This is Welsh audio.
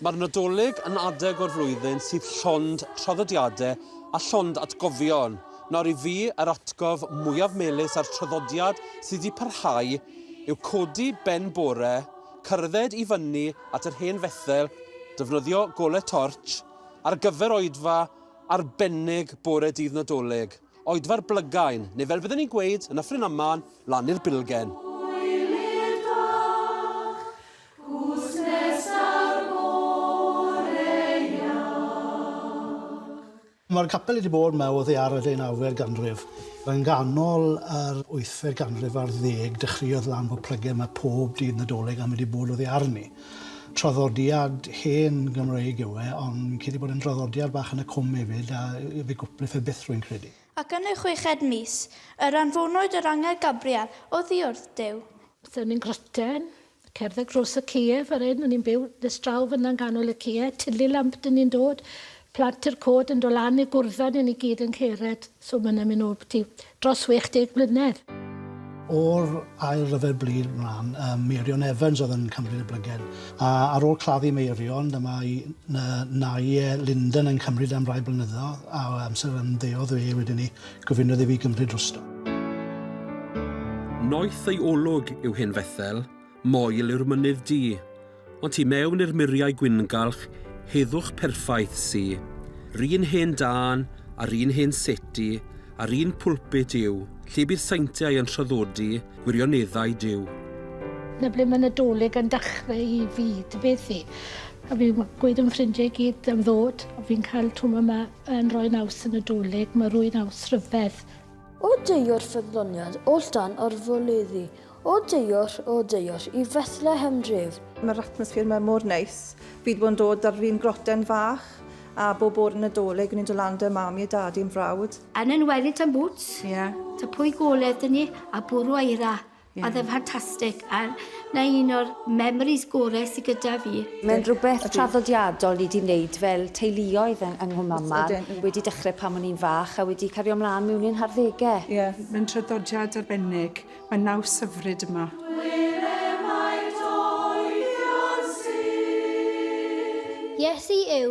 Mae'r Nadolig yn adeg o'r flwyddyn sydd llond traddodiadau a llond atgofion. Nawr i fi, yr atgof mwyaf melys a'r traddodiad sydd wedi parhau yw codi ben bore, cerdded i fyny at yr hen Fethel, defnyddio golau tortsh ar gyfer oedfa arbennig bore dydd Nadolig, oedfa'r Blygain, neu fel bydden ni'n gweud yn Nyffryn Aman, lan i'r Bilgen. Cwsg nesaf bore iach. Mae'r capel wedi bod yma o ddaear y ddeunawfed ganrif. Yn ganol yr wythfed ganrif ar ddeg dechreuodd lan fod plygen yma pob dydd Nadolig a mae wedi bod o ddaear arni. Traddodiad hen Gymreig yw e ond fi'n credu bod e'n draddodiad bach yn y cwm hefyd a fe gwpli fe byth rwy'n credu. Ac yn y chweched mis, yr anfonwyd yr angel Gabriel oddiwrth Duw. Seren Grottin, Cerdded dros y cie, fan hyn, o'n i'n byw nes draw fan'na yn ganol y cie, Tilly Lamp 'dyn ni'n dod, Plant i'r Cod yn dod lan i gwrdda ni, ni gyd yn cered, so ma' hwnna'n myn' nôl byti dros 60 mlynedd. O'r Ail Ryfel Byd mlan, yym, Meirion Evans oedd yn cymryd y blygen, a ar ôl claddu Meirion, dyma i ny- nai e Linden yn cymryd e am rai blynyddodd, a o amser ymddeodd e wedyn 'ny. Gofynnodd i fi gymryd drosto. Noeth ei olwg yw hen Fethel, moel yw'r mynydd du, ond tu mewn i'r muriau gwyngalch, heddwch perffaith sy. 'run hen dân, a'r un hen seti, a'r un pulpit yw, lle bydd saintiau yn traddodi gwirioneddau Duw. Na ble mae Nadolig yn dachrau i fi, dy beth i? A fi'n gweud am ffrindiau i gyd am ddod, a fi'n cael twm yma. Yn rhoi naws y Nadolig, mae rhoi naws rhyfedd. O deuor ffyddloniad, o ldan o'r foleddu, o deuor, o deuor, i Fethlehem dref. Mae'r atmosffer yma mor neis. Fi wedi bod yn dod ar un groten fach a bob bore Nadolig o'n i'n dod lan 'da mam i a dad i yn frawd. Yn enwedig tan boots. Ie. Ta pwy goledd 'da ni a bwrw eira. Ie. Oedd e'n ffantastig a 'na un o'r memories gore sy gyda fi. Mae'n rhywbeth traddodiadol ni 'di wneud fel teuluoedd yng yng Nghwmaman. Oes ydyn. Wedi dechre pan o'n i'n fach a wedi cario mlan miwn i'n harddege. Ie, mae'n traddodiad arbennig. Mae naws hyfryd yma. Hwyl emaint oeddion sydd. Iesu yw